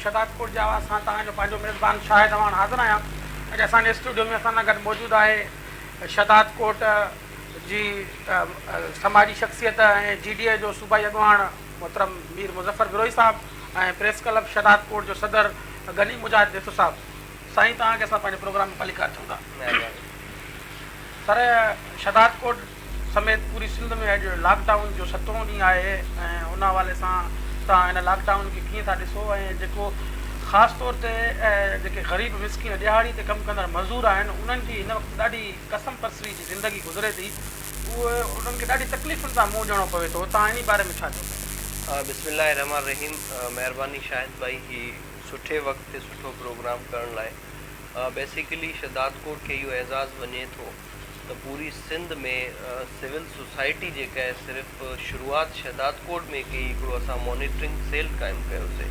شھداد پور جي آواز سان توھان جو پنھنجو ميزبان شاھد اعواڻ حاضر آھيان اڄ اسان جي اسٽوڊيو ۾ اسان سان گڏ موجود آھي شھداد ڪوٽ جي سماجي شخصيت ۽ جي ڊي اي جو صوبائي اڳواڻ محترم مير مظفر بروھي صاحب ۽ پريس ڪلب شھداد ڪوٽ جو صدر غني مجاھد ڏيٿو صاحب سائين توھان کي اسان پنھنجي پروگرام ۾ ڀلي قائل ٿيون ٿا سر شھداد ڪوٽ سميت پوري سنڌ ۾ اڄ لاڪ ڊائون جو ستون ڏينهن آهي ۽ ان حوالي سان توهان هن لاڪ ڊائون کي ڪيئن ٿا ڏسو ۽ جيڪو خاص طور تي جيڪي غريب مسڪين ڏيهاڙي تي ڪم ڪندڙ مزور آهن انهن جي هن وقت ڏاڍي ڪسم پرسري جي زندگي گذري ٿي اهو انهن کي ڏاڍي تڪليفن سان منهن ڏيڻو پوي ٿو توهان انهي باري ۾ ڇا چئو ٿا؟ بسم الله الرحمٰن الرحيم مهرباني شاهد ڀائي هي سٺي وقت تي سٺو پروگرام ڪرڻ لاء بيسيڪلي شھدادڪوٽ کي اهو اعزاز وڃي ٿو. ته پوري سنڌ ۾ سول سوسائٽي جيڪا آهي صرف شروعات شهدادڪوٽ ۾ ڪئي هڪڙو اسان مانيٽرنگ سيل قائم ڪيوسي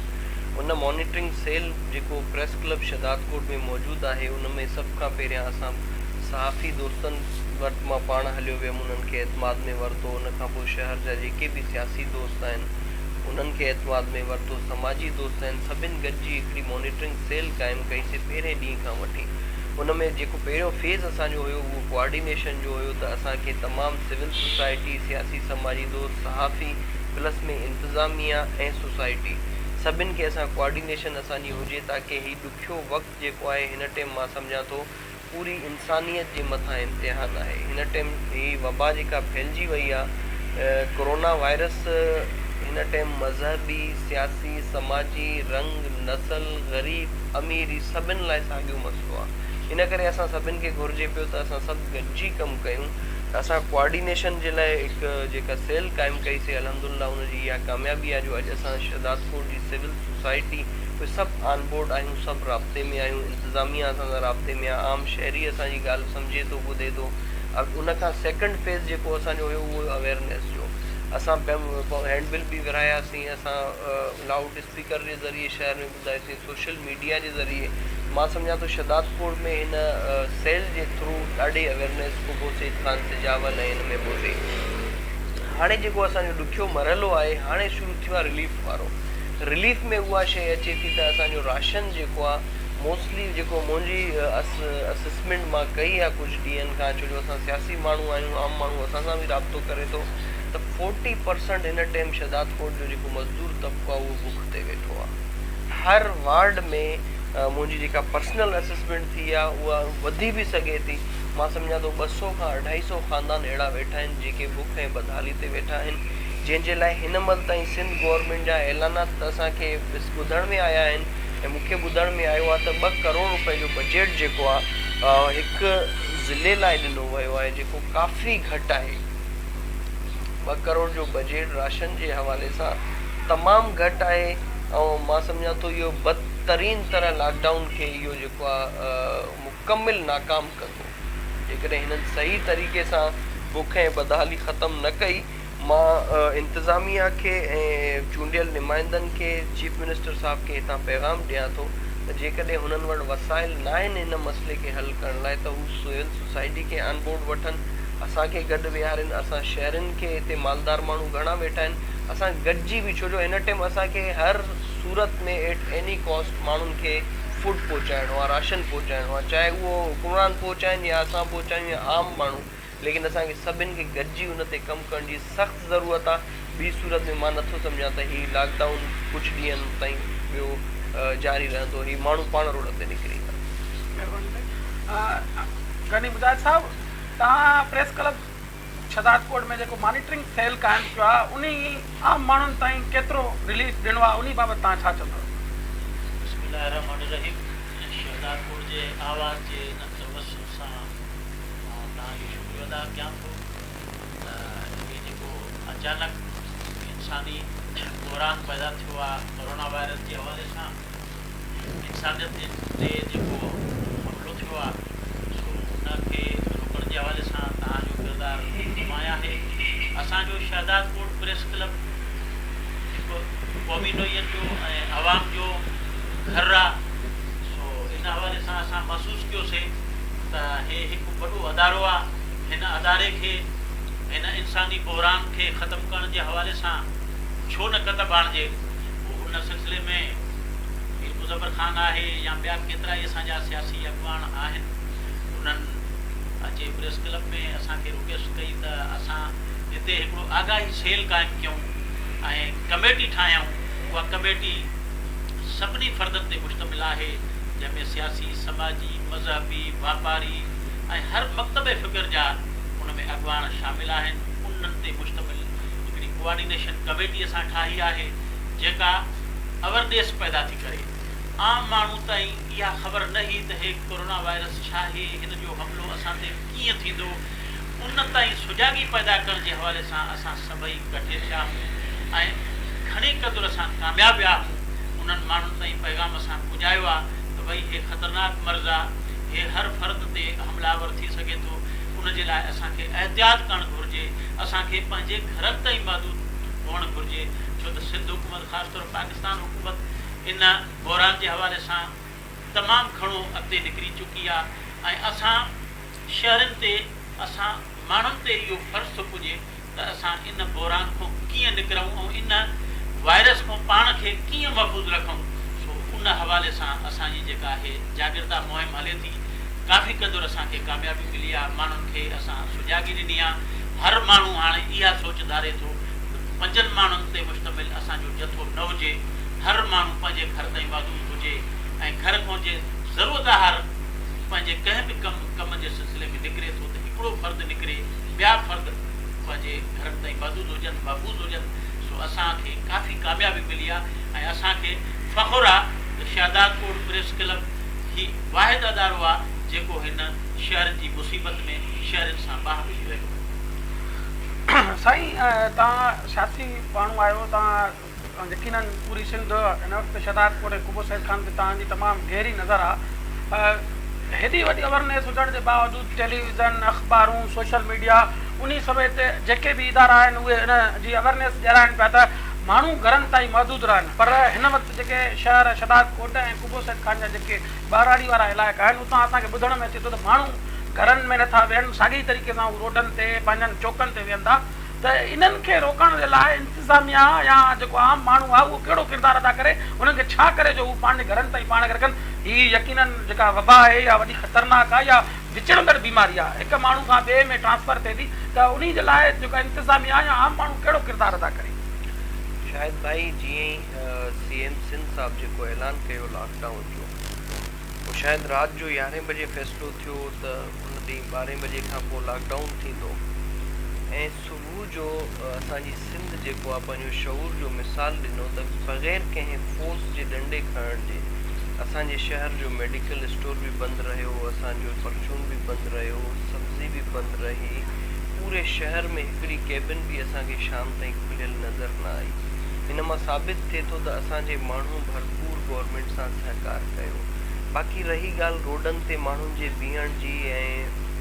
ان مانيٽرنگ سيل جيڪو پريس ڪلب شهدادڪوٽ ۾ موجود آهي ان ۾ سڀ کان پهريان اسان صحافي دوستن وٽ مان پاڻ هليو ويم انهن کي اعتماد ۾ ورتو ان کان پوء شهر جا جيڪي به سياسي دوست آهن انهن کي اعتماد ۾ ورتو سماجي دوست آهن سڀن گڏجي هڪڙي مانيٽرنگ سيل قائم ڪئي سي پهرين ڏينهن کان وٺي ان ۾ جيڪو پهريون فيز اسان جو هيو اهو ڪوآرڊينيشن جو هيو ته اسان کي تمام سول سوسائٽي، سياسي سماجي دوست، صحافي پلس ۾ انتظاميا ۽ سوسائٽي سڀن کي اسان ڪوآرڊينيشن اسان جي هجي تاڪه هي ڏکيو وقت جيڪو آهي هن ٽيم مان سمجهان ٿو پوري انسانيت جي مٿان امتحان آهي هن ٽيم هي وبا جيڪا ڦهلجي وئي آ ڪورونا وائرس هن ٽيم مذهبي، سياسي، سماجي، رنگ، نسل، غريب. اميري سڀن لاء ساڳيو مسئلو آ ان ڪري اسان سڀن کي گهرجي پيو ته اسان سڀ گڏجي ڪم ڪيون ته اسان ڪوآرڊينيشن جي لاء هڪ جيڪا سيل قائم ڪئي سي الحمدالله ان جي اها ڪاميابي آ جو اڄ اسان شهدادڪوٽ جي سول سوسائٽي اهي سڀ آن بورڊ آهيون سڀ رابطي ۾ آهيون انتظاميا اسان سان رابطي ۾ آ عام شهري اسان جي ڳالهه سمجهي ٿو ٻڌي ٿو ان کان سيڪنڊ فيز جيڪو اسان جو هيو اهو هيو اويرنيس جو اسان هينڊ بل به ورهاياسين اسان لائوڊ اسپيڪر جي ذريعي شهر ۾ ظاهر سائين سوشل ميڊيا جي ذريعي مان سمجهان ٿو شهداد پور ۾ هن سيل جي ٿرو ڏاڍي اويرنيس ڪوبو سيد خان سجاول ۽ هن ۾ به هئي هاڻي جيڪو اسان جو ڏکيو مرحلو آهي هاڻي شروع ٿيو آهي رليف وارو رليف ۾ اها شيء اچي ٿي ته اسان جو راشن جيڪو آهي موسٽلي جيڪو منهنجي اسسمينٽ مان ڪئي آهي ڪجهه ڏينهن کان ڇو جو اسان سياسي ماڻهو آهيون عام ماڻهو اسان سان به رابطو ڪري ٿو ته فورٽي پرسنٽ هن ٽيم شهداد پور جو جيڪو مزدور طبقو آهي اهو بک تي ويٺو آ هر وارڊ ۾ منهنجي جيڪا پرسنل اسسمينٽ ٿي آ اها وڌي به سگهي ٿي مان سمجهان ٿو ٻه سئو کان اڍائي سئو خاندان اهڙا ويٺا آهن جيڪي بک ۽ بدحالي تي ويٺا آهن جنهن جي لاء هن مهل تائين سنڌ گورنمينٽ جا اعلانات ته اسان کي ٻڌڻ ۾ آيا آهن ۽ مون کي ٻڌڻ ۾ آيو آ ته ٻه ڪروڙ روپئي جو بجيٽ جيڪو آ هڪ ضلعي لاء ڏنو ويو آهي جيڪو ڪافي گهٽ آهي ٻه ڪروڙ جو بجيٽ راشن جي حوالي سان تمام گهٽ آهي ۽ مان سمجهان ٿو اهو بدترين طرح لاڪ ڊائون کي اهو جيڪو آ مڪمل ناڪام ڪندو جيڪڏهن هنن صحيح طريقي سان بک ۽ بدحالي ختم نه ڪئي مان انتظاميا کي ۽ چونڊيل نمائندن کي چيف منسٽر صاحب کي هتان پيغام ڏيان ٿو ته جيڪڏهن هنن وٽ وسائل ناهن هن مسئلي کي حل ڪرڻ لاء ته هو سول سوسائٽي کي آن بورڊ وٺن اسان کي گڏ ويهارين اسان شهرين کي هتي مالدار ماڻهو گهڻا ويٺا آهن اسان گڏجي به ڇو جو هن ٽيم اسان کي هر صورت ۾ ايٽ ايني ڪاسٽ ماڻهن کي فوڊ پهچائڻو آهي راشن پهچائڻو آهي چاهي اهو حڪمران پهچائين يا اسان پهچايون يا عام ماڻهو ليڪن اسان کي سڀن کي گڏجي ان تي ڪم ڪرڻ جي سخت ضرورت آهي ٻي صورت ۾ مان نٿو سمجهان ته هي لاڪ ڊائون ڪجهه ڏينهن تائين ٻيو جاري رهندو هي ماڻهو پاڻ روڊن تي نڪري ايندا. مهرباني ٿي. غني مجاهد صاحب تهان پريس ڪلب شھدادڪوٽ ۾ جيڪو مانيٽرنگ سيل قائم ٿيو آھي انھي عام ماڻھن تائين ڪيترو رليف ڏنو آھي انھي بابت توھان ڇا چوندؤ؟ بسم الله الرحمٰن الرحيم شھدادڪوٽ جي آواز جي انھن توسط سان مان توھان جو شڪريو ادا ڪيان ٿو ته ھي جيڪو اچانڪ انساني بحران پيدا ٿيو آھي ڪورونا وائرس جي حوالي سان انسانيت تي جيڪو حملو ٿيو آ سو ان کي روڪڻ جي حوالي سان توهان جو ڪردار نمايان آهي اسان جو شهدادڪوٽ پريس ڪلب هڪ قومي نوعيت جو ۽ عوام جو گهر آ سو ان حوالي سان اسان محسوس ڪيو سي ته هي هڪ وڏو ادارو آ هن اداري کي هن انساني بحران کي ختم ڪرڻ جي حوالي سان ڇو نه قدم آڻجي. ان سلسلي ۾ مير مظفر خان آهي يا ٻيا ڪيترائي اسان جا سياسي اڳواڻ آهن انهن اچي پريس ڪلب ۾ اسان کي رڪويسٽ ڪئي ته اسان هتي هڪڙو آگاهي سيل قائم ڪيون ۽ ڪميٽي ٺاهيائون اها ڪميٽي سڀني فردن تي مشتمل آهي جنهن ۾ سياسي، سماجي، مذهبي، واپاري ۽ هر مڪتبه فڪر جا ان ۾ اڳواڻ شامل آهن انهن تي مشتمل هڪڙي ڪوآرڊينيشن ڪميٽي اسان ٺاهي آهي جيڪا اوئرنيس پيدا ٿي ڪري. عام ماڻهو تائين اها خبر نه هي ته هي ڪورونا وائرس ڇاهي، هن جو حملو اسان تي ڪيئن ٿيندو، ان تائين سجاڳي پيدا ڪرڻ جي حوالي سان اسان سڀئي ڪٺي ٿيا آهون ۽ گهڻي قدر اسان ڪامياب ويا آهون، انهن ماڻهن تائين پيغام اسان پڄايو آ ته ڀئي هي خطرناڪ مرض آ، هي هر فرد تي حملآور ٿي سگهي ٿو، ان جي لاء اسان کي احتياط ڪرڻ گهرجي. اسان کي پنهنجي گهرن تائين محدود هئڻ گهرجي ڇو ته سنڌ حڪومت خاص طور پاڪستان حڪومت ان بحران جي حوالي سان تمام گهڻو اڳتي نڪري چڪي آ ۽ اسان شهرين تي اسان ماڻهن تي اهو فرض ٿو پڄي ته اسان ان بحران کون ڪيئن نڪرون ۽ ان وائرس کون پاڻ کي ڪيئن محفوظ رکون سو ان حوالي سان اسان جي جيڪا هي جاڳرتا مهم هلي ٿي. ڪافي قدر اسان کي ڪاميابي ملي آ ماڻهن کي اسان سجاڳي ڏني آ هر ماڻهو هاڻي اها سوچ ڌاري ٿو ته پنجن ماڻهن تي مشتمل اسان جو جٿو نه هجي هر ماڻهو پنهنجي گهر تائين محدود هجي ۽ گهر کان جي ضرورت هر پنهنجي ڪنهن به ڪم ڪم جي سلسلي ۾ نڪري ٿو ته هڪڙو فرد نڪري ٻيا فرد پنهنجي گهرن تائين محدود هجن محفوظ هجن سو اسان کي ڪافي ڪاميابي ملي آ ۽ اسان کي فخر آ ته شهدادڪوٽ پريس ڪلب هي واحد ادارو آ جيڪو هن شهر جي مصيبت ۾ شهرين سان باهه ٻڌي رهيو آهي. سائين توهان سياسي ماڻهو آهيو توهان يقينن پوري سنڌ هن وقت شهداد ڪوٽ ۽ قبو سيد خان تي توهان جي تمام گهري نظر آ هيڏي وڏي اويرنيس هجڻ جي باوجود ٽيليويزن اخبارون سوشل ميڊيا انهي سميت جيڪي به ادارا آهن اهي ان جي اويرنيس ڏيارائن پيا ته ماڻهو گهرن تائين محدود رهن پر هن وقت جيڪي شهر شداد ڪوٽ ۽ قبو سيد خان جا جيڪي ٻهراڙي وارا علائقا آهن، اتان اسان کي ٻڌڻ ۾ اچي ٿو ته ماڻهو گهرن ۾ نٿا ويهن، ساڳئي طريقي سان هو روڊن تي، پنهنجن چوڪن تي ويهن ٿا ته انهن کي روڪڻ جي لاء انتظاميا يا جيڪو عام ماڻهو آهي اهو ڪهڙو ڪردار ادا ڪري، انهن کي ڇا ڪري جو هو پنهنجي گهرن تائين پاڻ کي رکن. هي يقينن جيڪا وبا آهي يا وڏي خطرناڪ آهي يا وچڙندڙ بيماري آهي، هڪ ماڻهو کان ٻئي ۾ ٽرانسفر ٿئي ٿي ته انهي جي لاء جيڪا انتظاميا يا عام ماڻهو ڪهڙو ڪردار ادا ڪري. شاهد ڀائي جيئن ئي سي ايم سنڌ صاحب جيڪو اعلان ڪيو لاڪ ڊائون جو اهو شايد رات جو يارهين بجي فيصلو ٿيو ته ان ڏينهن ٻارهين بجي کان پوء لاڪ ڊائون ٿيندو ۽ صبح جو اسان جي سنڌ جيڪو آهي پنهنجو شعور جو مثال ڏنو ته بغير ڪنهن فورس جي ڏنڊي کڻڻ جي اسان جي شهر جو ميڊيڪل اسٽور به بند رهيو اسان جو پرچون به بند رهيو سبزي به بند رهي پوري شهر ۾ هڪڙي ڪيبن به اسان کي شام تائين کليل نظر نه آئي. ان مان ثابت ٿئي ٿو ته اسان جي ماڻهن ڀرپور گورنمينٽ سان سهڪار ڪيو. باقي رهي ڳالهه روڊن تي ماڻهن جي بيهڻ جي ۽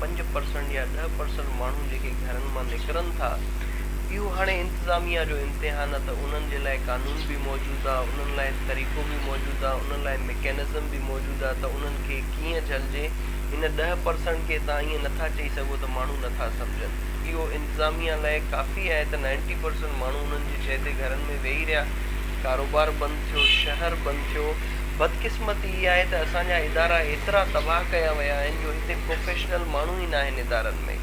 پنج پرسنٽ يا ڏهه پرسنٽ ماڻهو جيڪي گهرن مان نڪرن ٿا اهو هاڻي انتظاميا جو امتحان آ ته انهن جي لاء قانون به موجود آ انهن لاء طريقو به موجود آ انهن لاء مڪينزم به موجود آ ته انهن کي ڪيئن جهلجي ان ڏهه پرسنٽ کي تان ائين نٿا چئي سگهو ته ماڻهو نٿا سمجهن اهو انتظاميا لاء ڪافي آهي ته نائنٽي پرسنٽ ماڻهو انهن جي چئي تي گهرن ۾ ويهي رهيا، ڪاروبار بند ٿيو، شهر بند ٿيو، بدقسمتي اها آهي ته اسان جا ادارا ايترا تباهه ڪيا ويا آهن جو هتي پروفيشنل ماڻهو ئي ناهن ادارن ۾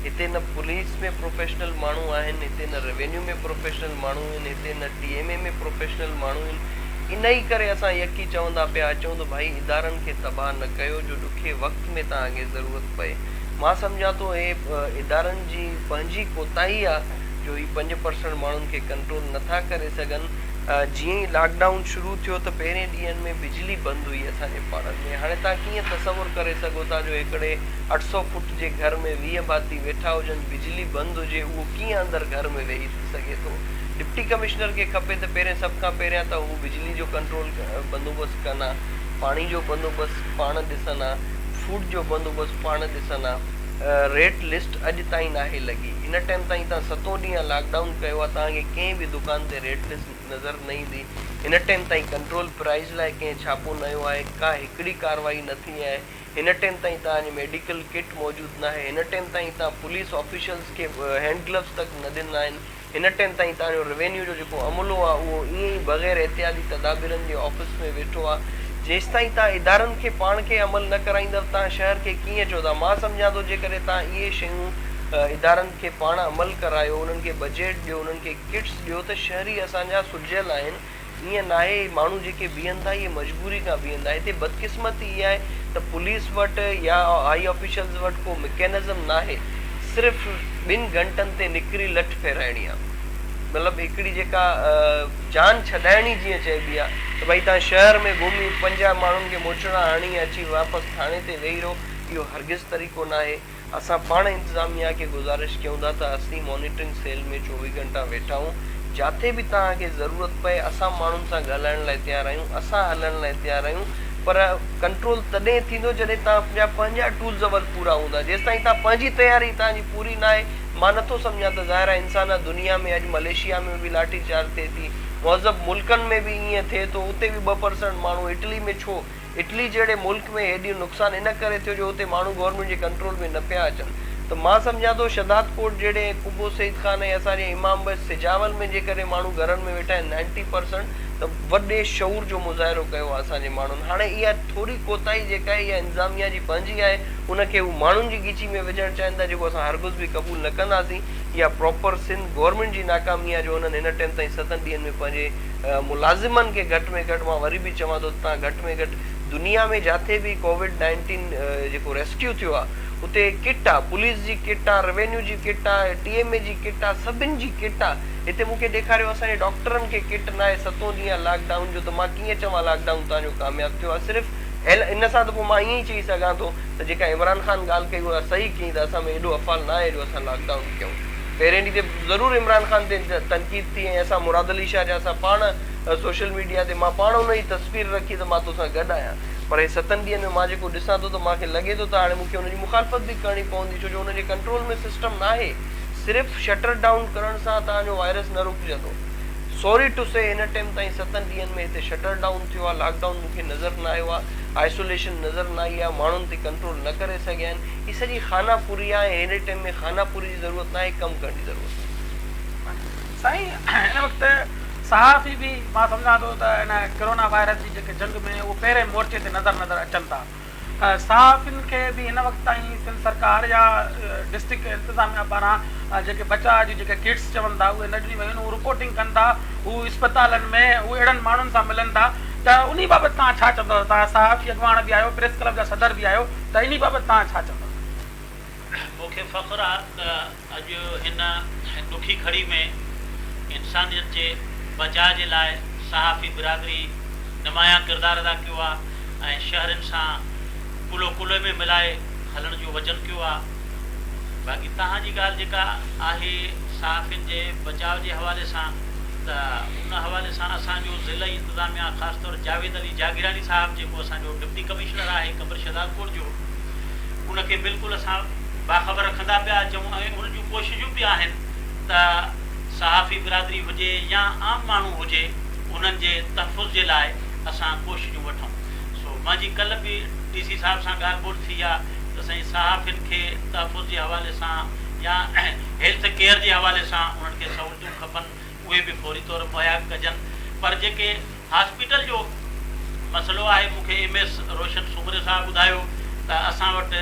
هتي نه پوليس ۾ پروفيشنل ماڻهو آهن هتي نه روينيو ۾ پروفيشنل ماڻهو آهن هتي نه ٽي ايم اي ۾ پروفيشنل ماڻهو آهن انهي ڪري اسان يڪي چوندا پيا اچون ته ڀائي ادارن کي تباهه نه ڪيو جو ڏکي وقت ۾ تان اگي ضرورت پئي. مان سمجهان ٿو هي ادارن جي پنهنجي ڪوتاهي آ جو هي پنج پرسنٽ ماڻهن کي ڪنٽرول نه ٿا ڪري سگهن جيئن ئي لاڪ ڊائون شروع ٿيو ته پهرين ڏينهن ۾ بجلي بند هئي اسان جي پاڙن ۾ هاڻي توهان ڪيئن تصور ڪري سگهو ٿا جو هڪڙي اٺ سؤ فوٽ جي گهر ۾ ويهه ڀاتي ويٺا هجن بجلي بند هجي اهو ڪيئن اندر گهر ۾ ويهي سگهي ٿو ڊپٽي ڪمشنر کي کپي ته پهرين سڀ کان پهريان ته هو بجلي جو ڪنٽرول بندوبست ڪن ها پاڻي جو بندوبست پاڻ ڏسن ها. فوڊ جو بندوبست پاڻ ڏسن ها. ريٽ لسٽ اڄ تائين ناهي لڳي. ان ٽائيم تائين تان ستون ڏينهن لاڪ ڊائون ڪيو آهي توهان کي ڪنهن به دڪان تي ريٽ لسٽ نظر نه ايندي. هن ٽائيم تائين ڪنٽرول پرائز لاء ڪنهن ڇاپو نه هنيو آهي. ڪا هڪڙي ڪارروائي نه ٿي آهي. هن ٽائيم تائين تان اڄ ميڊيڪل ڪٽ موجود ناهي. هن ٽائيم تائين تان پوليس آفيشلز کي هينڊ گلوز تڪ نه ڏنا آهن. هن ٽئن تائين تان جو روينيو جو جيڪو عملو آ اهو ائين ئي بغير احتياطي تدابيرن جي آفيس ۾ ويٺو آ جيستائين تان ادارن کي پاڻ کي عمل نه ڪرائيندؤ تان شهر کي ڪيئن چوندا مان سمجهان ٿو جيڪڏهن تان اهي شيون ادارن کي پاڻ عمل ڪرايو انهن کي بجيٽ ڏيو انهن کي ڪٽس ڏيو ته شهري اسان جا سجهيل آهن ايئن ناهي هي ماڻهو جيڪي بيهن ٿا اهي مجبوري کان بيهن ٿا هتي بدقسمتي اها آهي ته پوليس وٽ يا هائي آفيشلز وٽ ڪو مڪينزم ناهي صرف ٻن گهنٽن تي نڪري لٺ ڦيرائڻي آهي مطلب هڪڙي جيڪا جان ڇڏائڻي جيئن چئبي آهي ته ڀائي تان شهر ۾ گهمي پنجاهه ماڻهن کي موچڙا هڻي اچي واپس ٿاڻي تي ويهي رهو اهو هرگز طريقو ناهي اسان پاڻ انتظاميا کي گذارش ڪيون ٿا ته اسين مانيٽرنگ سيل ۾ چوويهه گهنٽا ويٺا هون جاتي به توهان کي ضرورت پئي اسان ماڻهن سان ڳالهائڻ لاء تيار آهيون اسان هلڻ لاء تيار آهيون پر ڪنٽرول تڏهن ٿيندو جڏهن توهان جا پنهنجا ٽولز اول پورا هوندا جيستائين توهان پنهنجي تياري توهان جي پوري ناهي مان نٿو سمجهان ته ظاهر آهي انسان آ دنيا ۾ اڄ مليشيا ۾ به لاٺي چارج ٿئي ٿي مهذب ملڪن ۾ به ائين ٿئي ٿو اتي به ٻه پرسنٽ ماڻهو اٽلي ۾ ڇو اٽلي جهڙي ملڪ ۾ هيڏيون نقصان ان ڪري ٿيو جو اتي ماڻهو گورنمينٽ جي ڪنٽرول ۾ نه پيا اچن ته مان سمجهان ٿو شهداد ڪوٽ جهڙي قبو سيد خان ۽ اسان جي امام بس سجاول ۾ جيڪڏهن ماڻهو گهرن ۾ ويٺا آهن نائنٽي پرسنٽ ته وڏي شعور جو مظاهرو ڪيو آهي اسان جي ماڻهن هاڻي اها ٿوري ڪوتاهي جيڪا آهي اها انظاميا جي پنهنجي آهي ان کي هو ماڻهن جي ڳچي ۾ وجهڻ چاهين ٿا جيڪو اسان هرگز به قبول نه ڪنداسين اها پراپر سنڌ گورنمينٽ جي ناڪامي آهي جو انهن هن ٽيم تائين ستن ڏينهن ۾ پنهنجي ملازمن کي گهٽ ۾ گهٽ مان وري به چوان ٿو ته تان گهٽ ۾ گهٽ دنيا ۾ جاٿي به ڪووڊ نائنٽين جيڪو ريسڪيو ٿيو آ اتي ڪٽ آ پوليس جي ڪٽ آ روينيو جي ڪٽ آ ٽي ايم اي جي ڪٽ آ سڀن جي ڪٽ آ هتي مون کي ڏيکاريو اسان جي ڊاڪٽرن کي ڪٽ ناهي ستون ڏينهن آ لاڪ ڊائون جو ته مان ڪيئن چوان لاڪ ڊائون تان جو ڪامياب ٿيو آ صرف ان سان ته پو مان ائين ئي چئي سگهان ٿو ته جيڪا عمران خان ڳالهه ڪئي اها صحيح ڪئي ته اسان ۾ ايڏو افعال ناهي جو اسان لاڪ ڊائون ڪيون پهرين ڏينهن تي ضرور عمران خان تي تنقيد ٿي ۽ اسان مراد علي شاهه جا اسان پاڻ سوشل ميڊيا تي مان پاڻ ان جي تصوير رکي ته مان توسان گڏ آهيان پر هي ستن ڏينهن ۾ مان جيڪو ڏسان ٿو ته مان کي لڳي ٿو ته هاڻي مون کي ان جي مخالفت به ڪرڻي پوندي ڇو جو ان جي ڪنٽرول ۾ سسٽم ناهي صرف شٽر ڊائون ڪرڻ سان هتان جو وائرس نه رڪجندو سوري ٽو سي هن ٽيم تائين ستن ڏينهن ۾ هتي شٽر ڊائون ٿيو آهي لاڪ ڊائون مون کي نظر نه آيو آهي آئسوليشن نظر نه آئي آهي ماڻهن تي ڪنٽرول نه ڪري سگهيا آهن هي سڄي خانه پوري آهي ۽ هيڏي ٽيم ۾ خانه پوري جي ضرورت ناهي ڪم ڪرڻ جي ضرورت آهي. سائين هن وقت صحافي به مان سمجهان ٿو ته هن ڪرونا وائرس جي جيڪي جنگ ۾ اهو پهرين مورچي تي نظر نظر اچن ٿا صحافين کي به هن وقت تائين سنڌ سرڪار يا ڊسٽرڪٽ انتظاميا پاران جيڪي بچاء جون جيڪي ڪٽس چون ٿا اهي نه ڏنيون ويون آهن هو رپورٽنگ ڪن ٿا هو اسپتالن ۾ هو اهڙن ماڻهن سان ملن ٿا ته انهي بابت توهان ڇا چوندو تهان صحافي اڳواڻ به آهيو پريس ڪلب جا صدر به آهيو ته انهي بابت توهان ڇا چوندا؟ مون کي فخر آ ته اڄ هن ڏکي گهڙي ۾ انسانيت جي بچاء جي لاء صحافي برادري نمايان ڪردار ادا ڪيو آ ۽ شهرين سان ڪلهو ڪلهي ۾ ملائي هلڻ جو وچن ڪيو آ. باقي توهان جي ڳالهه جيڪا آهي صحافين جي بچاء جي حوالي سان ته ان حوالي سان اسان جو ضلعي انتظاميا خاص طور جاويد علي جاگيراڻي صاحب جيڪو اسان جو ڊپٽي ڪمشنر آهي، خبر شهدادپور جو ان کي بلڪل اسان باخبر رکندا پيا اچون ۽ ان جون ڪوششون به آهن ته صحافي برادري هجي يا عام ماڻهو هجي انهن جي تحفظ جي لاء اسان ڪوششون وٺون سو منهنجي ڪلهه به ڊي سي صاحب سان ڳالهه ٻولهه ٿي آ ته سائين صحافين کي تحفظ جي حوالي سان يا هيلٿ ڪيئر جي حوالي سان انهن کي سهولتون کپن اهي به فوري طور مهيا ڪجن پر جيڪي هاسپيٽل جو مسئلو آهي مون کي ايم ايس روشن سومري صاحب ٻڌايو ته اسان وٽ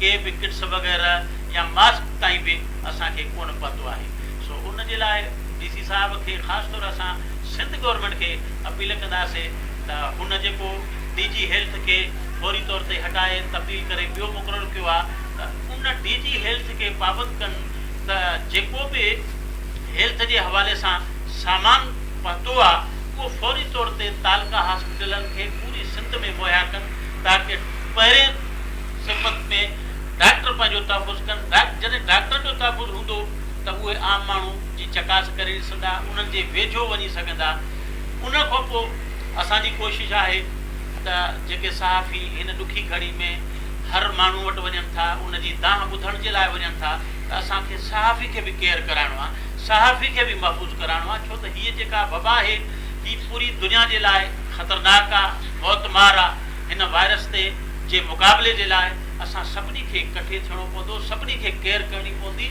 ڪي به ڪٽس وغيره يا ماسڪ تائين به اسان کي ڪونه پهتو آهي سو ان جي لاء ڊي سي صاحب کي خاص طور اسان سنڌ گورنمينٽ کي اپيل ڪنداسين ته هن جيڪو ڊي جي هيلٿ کي فوري طور تي هٽائي تبديل ڪري ٻيو مقرر ڪيو آهي ته ان ڊي جي هيلٿ کي پابند ڪن ته جيڪو به هيلٿ جي حوالي سان سامان پهتو آ اهو فوري طور تي تعلقه هاسپيٽلن کي پوري سنڌ ۾ مهيا ڪن تاڪه پهرين صفت ۾ ڊاڪٽر پنهنجو تحفظ ڪن جڏهن ڊاڪٽرن جو تحفظ هوندو ته اهي عام ماڻهو جي چڪاس ڪري سگهندا انهن جي ويجهو وڃي سگهندا ان کانپو اسان جي ڪوشش آهي ته جيڪي صحافي هن ڏکي گهڙي ۾ هر ماڻهو وٽ وڃن ٿا ان جي دانهن ٻڌڻ جي لاء وڃن ٿا ته اسان کي صحافي کي به ڪيئر ڪرائڻو آهي صحافي کي به محفوظ ڪرائڻو آهي ڇو ته هيء جيڪا وبا آهي هي پوري دنيا جي لاء خطرناڪ آهي موت مار آهي هن وائرس تي جي مقابلي جي لاء اسان سڀني کي ڪٺي ٿيڻو پوندو سڀني کي ڪيئر ڪرڻي پوندي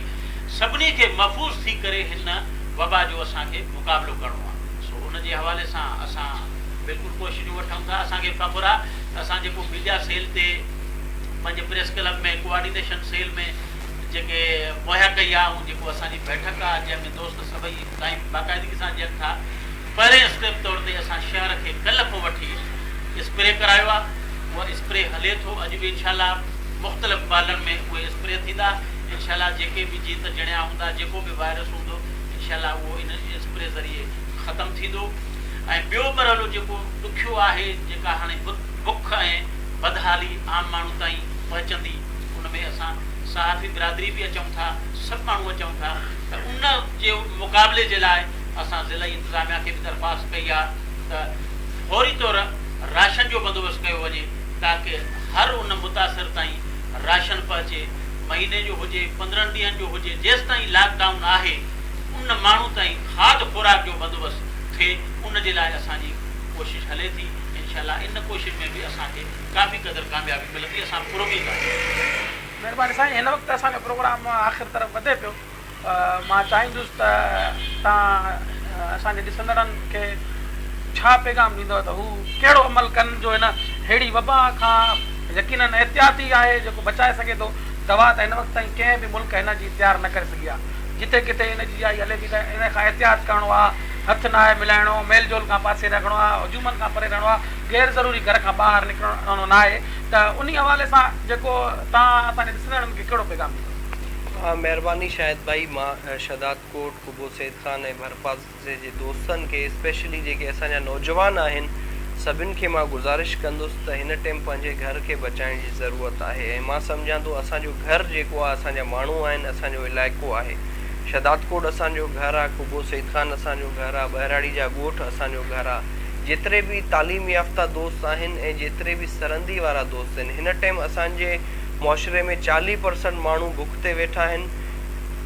سڀني کي محفوظ ٿي ڪري هن وبا جو اسان کي مقابلو ڪرڻو آهي سو ان جي حوالي سان اسان بلڪل ڪوششون وٺون ٿا اسان کي فخر آهي اسان جيڪو ميڊيا سيل تي پنهنجي پريس ڪلب ۾ ڪوآرڊينيشن سيل ۾ جيڪي مهيا ڪئي آهي ۽ جيڪو اسان جي بيٺڪ آهي جنهن ۾ دوست سڀئي ٽائيم باقاعدگي سان ڏين ٿا پهرين اسٽيپ طور تي اسان شهر کي ڪلهه کان وٺي اسپري ڪرايو آهي اهو اسپري هلي ٿو اڄ به انشاء الله مختلف محلن ۾ اهي اسپري ٿيندا انشاء الله جيڪي به جيت جڻيا هوندا جيڪو به وائرس هوندو انشاء الله اهو ان اسپري ذريعي ختم ٿيندو. ۽ ٻيو مرحلو جيڪو ڏکيو آهي، جيڪا هاڻي بک ۽ بدحالي عام ماڻهو تائين پهچندي، ان ۾ اسان صحافي برادري به اچون ٿا، سڀ ماڻهو اچون ٿا ته ان جي مقابلي جي لاء اسان ضلعي انتظاميا کي به درخواست ڪئي آهي ته فوري طور راشن جو بندوبست ڪيو وڃي تاڪه هر ان متاثر تائين راشن پهچي، مهيني جو هجي، پندرهن ڏينهن جو هجي، جيستائين لاڪ ڊائون آهي، ان ماڻهو تائين کاڌ خوراڪ جو بندوبست. ٿئي ان جي لاء اسان جي ڪوشش هلي ٿي انشاء الله ان ڪوشش ۾ به اسان کي ڪافي قدر ڪاميابي ملندي اسان پر اميد آهيون. مهرباني سائين هن وقت اسان جو پروگرام آخر طرف وڌي پيو مان چاهيندس ته تان اسان جي ڏسندڙن کي ڇا پيغام ڏيندو ته هو ڪهڙو عمل ڪن جو هن ههڙي وبا کان يقينن احتياط ئي آهي جيڪو بچائي سگهي ٿو دوا ته هن وقت تائين ڪنهن به ملڪ هن جي تيار نه ڪري سگهي آهي جتي ڪٿي ان جي جائي هلي ٿي ته ان کان احتياط ڪرڻو آهي، هٿ ناهي ملائڻو، ميل جول کان پاسي رکڻو آهي، هجومن کان پري رهڻو آهي، غير ضروري گهر کان ٻاهر نڪرڻو ناهي ته انهي حوالي سان جيڪو تان اسان جي ڏسندڙن کي ڪهڙو پيغام ڏيندو؟ مهرباني شاهد ڀائي مان شهدادڪوٽ قبو سيد خان ۽ ڀرپاس جي جي دوستن کي اسپيشلي جيڪي اسان جا نوجوان آهن سڀن کي مان گذارش ڪندس ته هن ٽيم پنهنجي گهر کي بچائڻ جي ضرورت آهي ۽ مان سمجهان ٿو اسان جو گهر جيڪو آهي اسان جا ماڻهو آهن اسان جو علائقو آهي شهداد ڪوٽ اسان جو گهر آهي قبو سيد خان اسان جو گهر آهي ٻهراڙي جا ڳوٺ اسان جو گهر آهي جيتري به تعليم يافته دوست آهن ۽ جيتري به سرندي وارا دوست آهن هن ٽيم اسان جي معاشري ۾ چاليهه پرسنٽ ماڻهو بک تي ويٺا آهن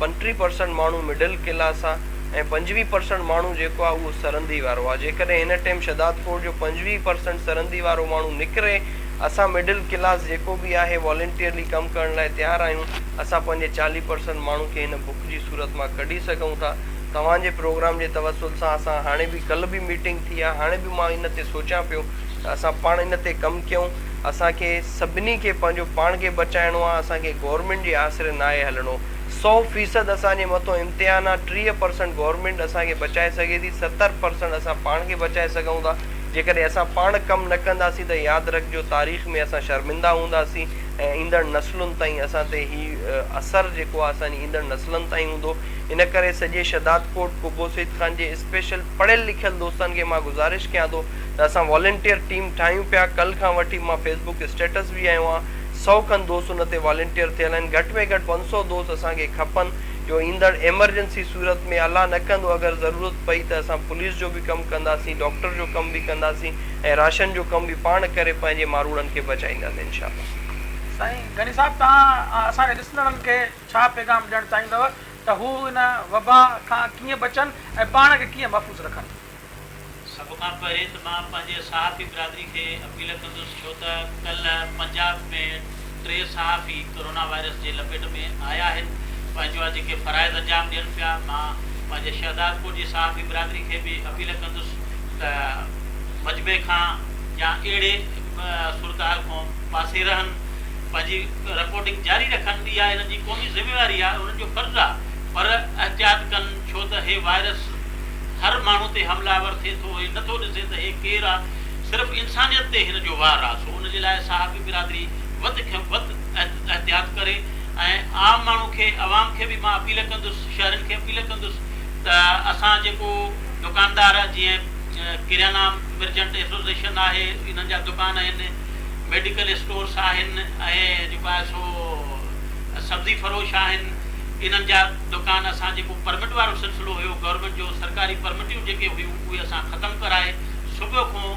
پنٽيهه پرسنٽ ماڻهو مڊل ڪلاس آهي ۽ پنجويهه پرسنٽ ماڻهو جيڪو آهي اهو سرندي وارو آهي جيڪڏهن هن ٽيم شهداد ڪوٽ جو پنجويهه پرسنٽ سرندي وارو ماڻهو نڪري اسان مڊل ڪلاس جيڪو به آهي والنٽيئرلي ڪم ڪرڻ لاء تيار آهيون اسان پنهنجي چاليهه پرسنٽ ماڻهو کي هن بک جي صورت مان ڪڍي سگهون ٿا توهان جي پروگرام جي توسل سان اسان هاڻي به ڪلهه به ميٽنگ ٿي آهي هاڻي به مان ان تي سوچيان پيو ته اسان پاڻ ان تي ڪم ڪيون اسان کي سڀني کي پنهنجو پاڻ کي بچائڻو آهي اسان کي گورنمينٽ جي آسري ناهي هلڻو سؤ فيصد اسان جي مٿو امتحان آ، ٽيهه پرسنٽ گورنمينٽ اسان کي بچائي سگهي ٿي، ستر پرسنٽ اسان پاڻ کي بچائي سگهون ٿا، جيڪڏهن اسان پاڻ ڪم نه ڪنداسين ته ياد رکجو تاريخ ۾ اسان شرمنده هونداسين ۽ ايندڙ نسلن تائين اسان تي هي اثر جيڪو آ اسان جي ايندڙ نسلن تائين هوندو ان ڪري سڄي شھدادڪوٽ قبو سيد خان جي اسپيشل پڙهيل لکيل دوستن کي مان گذارش ڪيان ٿو ته اسان والنٽيئر ٽيم ٺاهيون پيا ڪل کان وٺي مان فيسبوڪ اسٽيٽس به هنيو آ سؤ کن دوست ان تي والنٽيئر ٿيل آهن، گهٽ ۾ گهٽ پنج سؤ دوست اسان کي کپن، جو ايندڙ ايمرجنسي صورت ۾ الله نه ڪندو اگر ضرورت پئي ته اسان پوليس جو به ڪم ڪنداسين، ڊاڪٽر جو ڪم به ڪنداسين ۽ راشن جو ڪم به پاڻ ڪري پنهنجي ماروڙن کي بچائينداسين انشاء الله. سائين غني صاحب توهان اسان جي ڏسندڙن کي ڇا پيغام ڏيڻ چاهيندؤ ته هو ان وبا کان ڪيئن بچن ۽ پاڻ کي ڪيئن محفوظ رکن؟ سڀ کان پهرين ته مان پنهنجي صحافي برادري کي اپيل ڪندس ڇو ته ڪلهه پنجاب ۾ ٽي صحافي ڪورونا وائرس جي لپيٽ ۾ آيا آهن پنهنجا جيڪي فرائض انجام ڏين پيا مان پنهنجي شهدادپور جي صحافي برادري کي به اپيل ڪندس ته مجمعي کان يا اهڙي صورتحال کون پاسي رهن پنهنجي رپورٽنگ جاري رکن اها هنن جي قومي ذميواري آهي هنن جو فرض آهي پر احتياط ڪن ڇو ته هي وائرس هر ماڻهو تي حمله آور ٿئي ٿو، هي نه ٿو ڏسي ته هي ڪير آ، صرف انسانيت تي هن جو وار آ، سو ان جي لاء صحافي برادري وڌ کان وڌ احتياط ڪري ۽ عام ماڻهو کي عوام کي به مان اپيل ڪندس، شهرين کي اپيل ڪندس ته اسان جيڪو دڪاندار جيئن ڪريانا مرچنٽ ايسوسيئشن آهي، انهن جا دڪان آهن، ميڊيڪل اسٽورس آهن ۽ جيڪو آهي سو سبزي فروش آهن، انهن جا. دڪان اسان جيڪو پرمٽ وارو سلسلو هيو گورنمينٽ جو سرڪاري پرمٽيون جيڪي هيون اهي اسان ختم ڪرائي صبح کون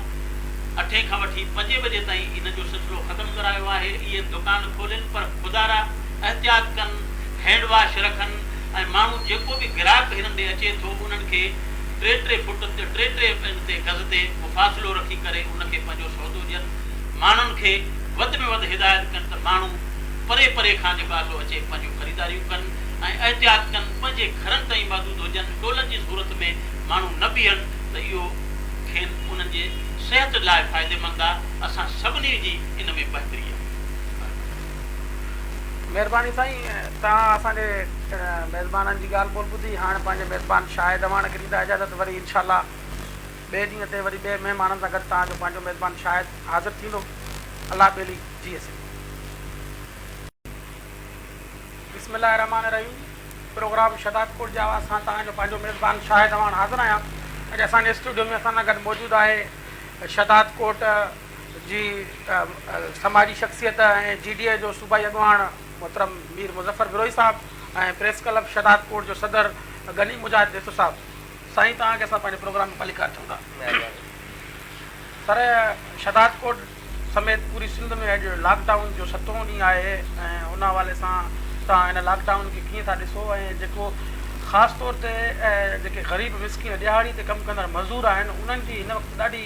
اٺين کان وٺي پنجين بجي تائين انهن جو سلسلو ختم ڪرايو آهي اهي دڪان کولين پر خدارا احتياط ڪن هينڊ واش رکن ۽ ماڻهو جيڪو به گراهڪ هنن ڏي اچي ٿو انهن کي ٽي ٽي فوٽ تي ٽي ٽي ان تي گز تي فاصلو رکي ڪري ان کي پنهنجو سودو ڏين ماڻهن کي وڌ ۾ وڌ هدايت ڪن ته ماڻهو پري پري کان جيڪو آسو اچي پنهنجون خريداريون ڪن. ۽ احتياط ڪن، پنهنجي گهرن تائين محدود هجن، ٽولن جي صورت ۾ ماڻهو نه بيهن ته اهو کين انهن جي صحت لاء فائديمند آهي، اسان سڀني جي ان ۾ بهتري آهي. مهرباني سائين توهان اسان جي ميزبانن جي ڳالهه ٻولهه ٻڌي هاڻ پنهنجي ميزبان شاهد اواڻ کي ڏيندا اجازت وري انشاء الله ٻئي ڏينهن تي وري ٻئي مهمانن سان گڏ توهان جو پنهنجو ميزبان شاهد حاضر ٿيندو الله ٻيلي جيئي سگهي. بسم الله الرحمٰن الرحيم پروگرام شھداد ڪوٽ جي آواز سان توهان جو پنهنجو ميزبان شاهد اعواڻ حاضر آهيان اڄ اسان جي اسٽوڊيو ۾ اسان سان گڏ موجود آهي شھداد ڪوٽ جي سماجي شخصيت ۽ جي ڊي اي جو صوبائي اڳواڻ محترم Mir Muzaffar Brohi sahib ۽ press club Shahdadkot جو صدر غني مجاهد ڀيتو صاحب سائين توهان کي اسان پنهنجي پروگرام ۾ ڀليڪار چئون ٿا سر شھداد ڪوٽ سميت پوري سنڌ ۾ اڄ لاڪ ڊائون جو ستون ڏينهن آهي ۽ ان حوالي سان توهان ان لاڪ ڊائون کي ڪيئن ٿا ڏسو ۽ جيڪو خاص طور تي جيڪي غريب مسڪين ڏهاڙي تي ڪم ڪندڙ مزور آهن انهن جي هن وقت ڏاڍي